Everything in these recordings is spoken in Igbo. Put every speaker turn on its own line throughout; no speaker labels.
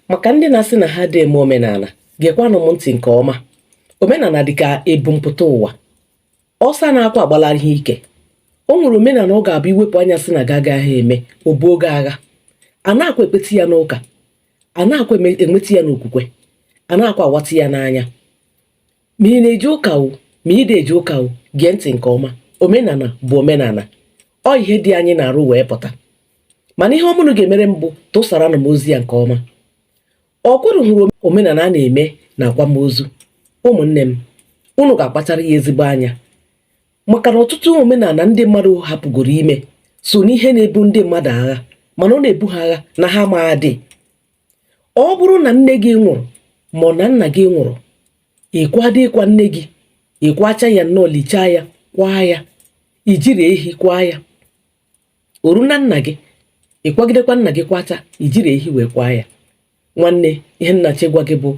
maka ndị na-asị na ha adị eme omenala gekwanụ m ntị nke ọma omenala dị ka ebumpụta ụwa ọsọ anakwa agbala ihe ike o nwere omenala ọ ga-abụ iwepụ anya sị na gị agagha eme o buo gị agha anakwa ekpeti ya n'ụka anakwa ekweti ya n'okwukwe anakwa awati ya n'anya ma ị na-eje ụka o ma ị dị eje ụka o gee ntị nke ọma omenala bụ omenala ọ ihe dị anyị n'arụ wee pụta mana ihe ọma unu ga-emere m bụ tụsaranụ m ozi a nke ọma ọ kwa unu hụrụ omenala a na-eme na akwamozu ụmụnne m unu ga-akpachara ya ezigbo anya maka na ọtụtụ omenala ndị mmadụ hapụgoro ime so n'ihe na-ebu ndị mmadụ agha mana ọ na-ebu ha agha na ha amadị ọ bụrụ na nne gị nwụrụ ma ọ na nna gị nwụrụ ị kwado ịkwa nne gị ị kwachaa ya nnọọ lichaa ya kwaa ya i jirọ ehi kwaa ya o ruo na nna gị ị kwagidekwa nna gị kwachaa i jirọ ehi wee kwaa ya nwanne ihe m na-achọ ịgwa gị bụ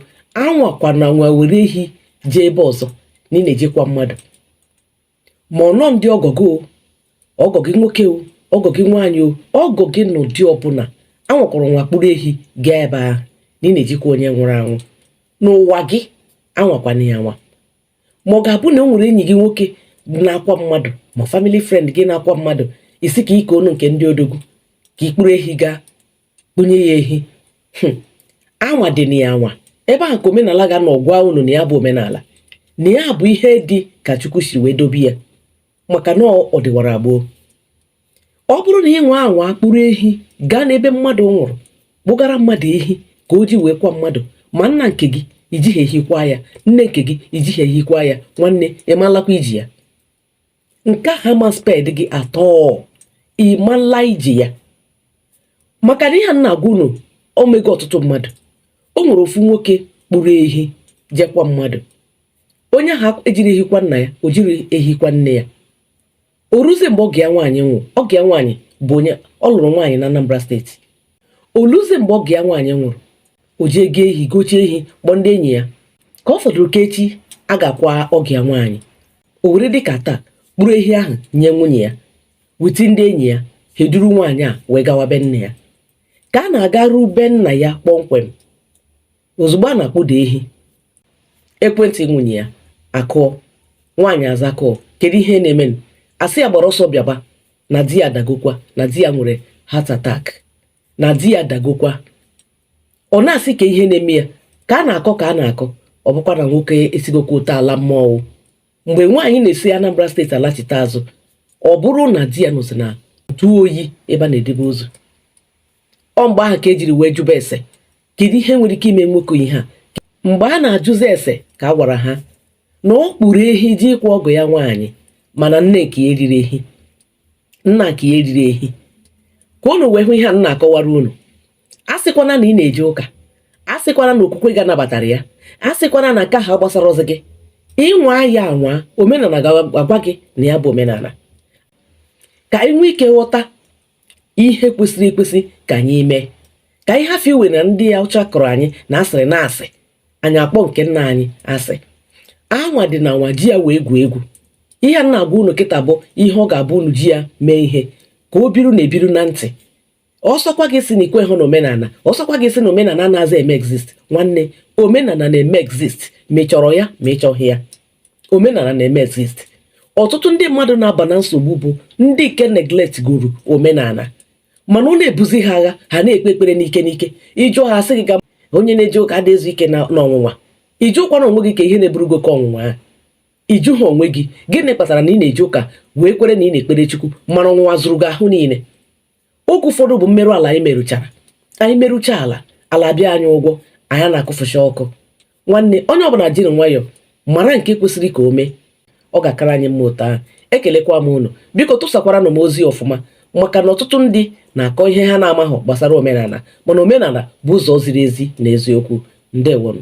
anwakwana anwa were ehi jee ebe ọzọ na ị na-eje ịkwa mmadụ ma ụnọ ndị ọgọ gị o ọgọ gị nwoke o ọgọ gị nwaanyị o ọgọ gị n'ụdị ọbụla anwakwana anwa kpụrụ ehi gaa ebe ahụ na ị na-eje ịkwa onye nwụrụ anwụ n'ụwa gị anwakwana ya anwa ma ọ ga-abụ na o nwere enyi gị nwoke na-akwa mmadụ ma family friend gị na-akwa mmadụ ị sị ka ị kaa ọnụ nke ndị odogwu ka ị kpụrụ ehi gaa kpụnye ya ehi hmm. anwadịna ya anwa ebe ahụ ka omenala ga-anọ gwa unu na ya bụ omenala na ya bụ ihe dị ka chukwu si wee dobe ya maka na ọ dịwara gboo ọ bụrụ na ị nwa anwa kpụrụ ehi gaa n'ebe mmadụ nwụrụ kpụgara mmadụ ehi ka o ji wee kwa mmadụ ma nna nke gị i jighị ehi kwa ya nne nke gị i jighị ehi kwa ya nwanne ị ma-alakwa ije ya nke a ha ma spare gị at all ị ma-ala ije ya maka na ihe a m na-agwa unu o mego ọtụtụ mmadụ o nwere ofu nwoke kpụrụ ehi jee kwa mmadụ onye ahụ ejirọ ehi kwa nna ya o jirọ ehi kwa nne ya o ruzie mgbe ọgọ ya nwaanyị nwụrụ ọgọ ya nwaanyị bụ onye ọ lụrụ nwaanyị na Anambra state o ruzie mgbe ọgọ ya nwaanyị nwụrụ o jee goo ehi gochaa ehi kpọọ ndị enyi ya ka ọ fọdụrụ ka echi a ga-akwa ọgọ ya nwaanyị o were dị ka taa kpụrụ ehi ahụ nye nwunye ya with ndị enyi ya ha eduru nwaanyị a wee gawa be nna ya ka a na-agaru be nna ya kpọmkwem ozugbo a na-akpụda ehi ekwentị nwunye ya akụọ nwaanyị aza call kedu ihe na-eme a sị ya gbara ọsọ bịaba na di ya dagokwa na di ya nwere heart attack na di ya dagokwa ọ na-asị ka ihe na-eme ya ka a na-akọ ka a na-akọ ọ bụkwa na nwoke esigokwa ụta ala mmọnwụ mgbe nwaanyị na-esi Anambra steeti alachite azụ ọ bụrụ na di ya nọzi na ntụ oyi ebe a na-edebe ozu ọ mgbe ahụ ka ejiri wee jụba ese kedu ihe nwere ike ime nwoke ihe a mgbe a na-ajụzi ese ka a gwara ha na ọ kpụrụ ehi je ịkwa ọgọ ya nwaanyị mana nne nke ya eriri ehi nna nke ya eriri ehi ka unu wee hụ ihe a m na-akọwara unu a sịkwana na ị na-eje ụka a sịkwana na okwukwe gị anabatara ya a sịkwana na nke ahụ agbasarọzị gị ị nwaa ya anwa omenala ga-agwa gị na ya bụ omenala ka anyị nwee ike ghọta ihe kwesịrị ekwesị ka anyị mee ka anyị hafụ iwe na ndị ọcha kọrọ anyị na asịrị na asị anyị akpọ nke nna anyị asị anwadịna anwa ji ya wee egwu egwu ihe a na-agwa unu kịta bụ ihe ọ ga-abụ unu ji ya mee ihe ka o biru na-ebiru na ntị ọ sọkwa gị sị na i kwehụ na omenala ọ sọkwa gị sị na omenala anazị eme exist nwanne omenala na-eme exist ma ị chọrọ ya ma ị chọghị ya omenala na-eme exist ọtụtụ ndị mmadụ na-aba na nsogbu bụ ndị nke neglectigoro omenala mana ọ na-ebuzi ha agha ha na-ekpe ekpere n'ike n'ike ị jụọ ha a sị gị na onye na-eje ụka adịghị ezu ike n'ọnwụnwa ị jụkwara onwe gị ka ihe na-eburu gị oke ọnwụnwa a ị jụha onwe gị gịnị kpatara na ị na-eje ụka wee kwere na ị na-ekpere chukwu mana ọnwụnwa zụrụ gị ahụ niile oge ụfọdụ bụ mmerụ ala anyị merụchara anyị merụcha ala ala bịa anyị ụgwọ anyị na-akụfụcha ọkụ nwanne onye ọbụla jiri nwayọọ mara nke kwesịrị ka o mee ọ ga-akara anyị mma otu ahụ ekelekwa m unu biko tụsakwaranụ m ozi ọfụma maka na ọtụtụ ndị na-akọ ihe ha na-amaghị gbasara omenala mana omenala bụ ụzọ ziri ezi na eziokwu ndewonụ